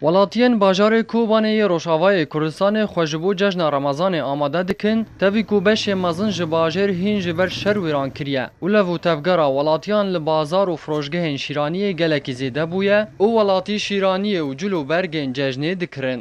Welatiyên bajarê Kobanê yê Rojavayê Kurdistanê xwe ji bo cejna Remezanê amade dikin, tevî ku beşê mezin ji bajêr hîn ji ber şer wêran kiriye û lev û tevgera welatiyan li bazar û firojgehên şîraniyê gelekî zêde bûye û welatî şîraniyê û cil û bergên cejnê dikirin.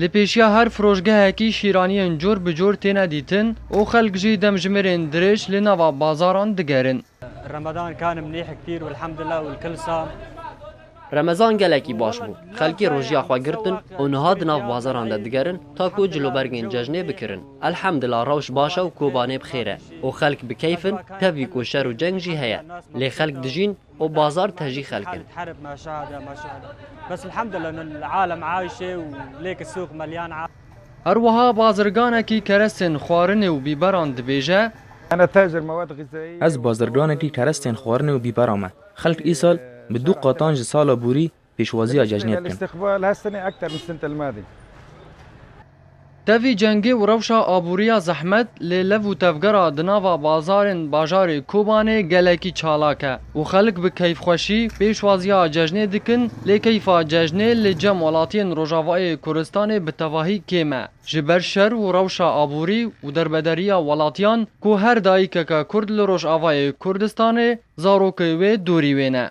Li pêşiya her firoşgehekî şîraniyên cor bi cor têne dîtin û xelk jî demjimêrên dirêj li nava bazaran digerin. Remezan kanim nêhik pîr û elhemdullah û lkilsa. Remezan gelekî baş bû. Xelkê rojiya xwe girtin û niha di nav bazaran de digerin ta ku cilûbergên cejnê bikirin. Elhemdullah rewş baş e û kobanê bi xêr e û xelk bi keyf in, tevî ku şer û ceng jî heye. Lê xelk dijîn û bazar tejî xelk in. Her wiha bazirganekî kerestên xwarinê û bîberan dibêje, Ez bazirganekî kerestên xwarinê û bîbera me. Xelk îsal bi du qatan ji sala borî pêşwaziya cejnê bikin. Tevî cengê û rewşa aboriya zehmet lê lev û tevgera di nava bazarên bajarê Kobanê gelekî çalak e û xelk bi keyfxweşî pêşwaziya cejnê dikin lê keyfa cejnê li cem welatiyên Rojavayê Kurdistanê bi tevahî kêm e ji ber şer û rewşa aborî û derbederiya welatiyan ku her dayikeke Kurd li Rojavayê Kurdistanê zarokê wê dorî wê ne.